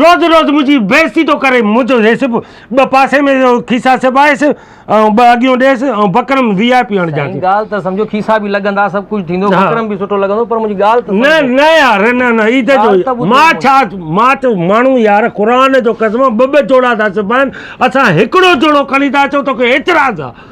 روز روز منهنجي بيعزتي ٿو ڪري، مون چيو هي سڀ ٻه پاسي ۾ کيسا سبائيس ۽ ٻه اڳيون ڏيس ۽ بڪرم وي آء پي هڻ جانچ. سائين ڳالهه ته سمجهو کيسا به لڳندا سڀ ڪجهه ٿيندو بڪرم به سٺو لڳندو پر منهنجي ڳالهه ته سمجهو. نه نه يار نه نه اي ته جو مان ڇا مان ته ماڻهو يار قرآن جو قسم ٻه ٻه جوڙا ٿا سبائين اسان هڪڙو جوڙو کڻي ٿا اچون توکي اعتراض آ.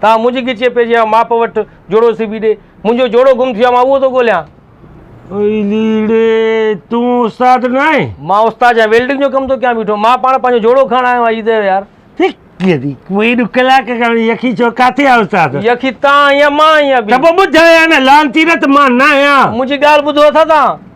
تان منهنجي ڳچيء پيجي يا ماپ وٺ، جوڙو سبي ڏي. منهنجو جوڙو گم ٿيو آهي، مان اهو ٿو ڳوليان. اي ليڙي، تون استاد نه آهين؟ مان استاد يا ويلڊنگ جو ڪم ٿو ڪيان بيٺو. مان پاڻ پنهنجو جوڙو کڻڻ آيو آهيان، ايڌيو يار. هڪ ڏي، ڪوئي ڏو ڪلاڪ کان يخي ڇو ڪاٿي آهي استاد؟ يخي تان آهين يا مان آهيان ڀي؟ ته پوء ٻڌايان نه، لعنتي نه ته مان نه آهيان. منهنجي ڳالهه ٻڌو اٿا تان؟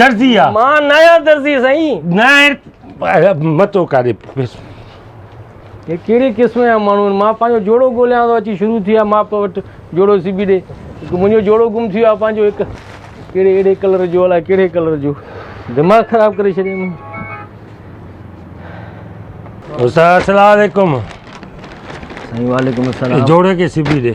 درزي آ مان ناهيان درزي سائين ناهر متو ڪاري هي ڪهڙي قسم جا ماڻهو آهن مان پنهنجو جوڙو ڳوليان ٿو اچي شروع ٿي ويا ماء پيء وٽ جوڙو سبي ڏي هڪ منهنجو جوڙو گم ٿي ويو آهي پنهنجو هڪ ڪهڙي اهڙي ڪلر جو الاء ڪهڙي ڪلر جو دماغ خراب ڪري ڇڏيم السلام علیکم سائين وعليڪم السلام جوڙو کي سبي ڏي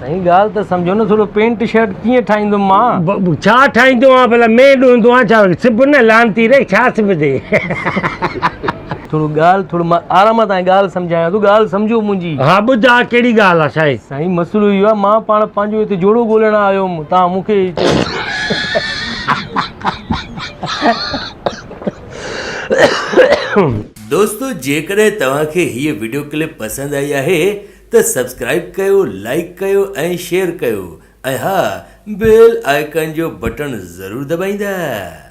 سائين ڳالهه ته سمجهو نه ٿورو پينٽ شرٽ ڪيئن ٺاهيندم مان. ڇا ٺاهيندو آهان ڀلا مين ڏوندو آهان ڇا سب نه لعنتي ري ڇا سبندين. ٿورو ڳالهه ٿورو مان آرام سان ڳالهه سمجهايان ٿو ڳالهه سمجهو منهنجي. ها ٻڌاء ڪهڙي ڳالهه آهي سائين. سائين مسئلو اهو آهي مان پاڻ پنهنجو هتي جوڙو ڳولهڻ آيو هوم توهان مون کي چئو. دوستو جيڪڏهن توهان کي هيء وڊيو ڪلپ پسند آئي آهي ته سبسڪرائب ڪيو لائيڪ ڪيو ۽ شيئر ڪيو ۽ ها بيل آئيڪان جو بٽڻ ضرور دٻائيندا.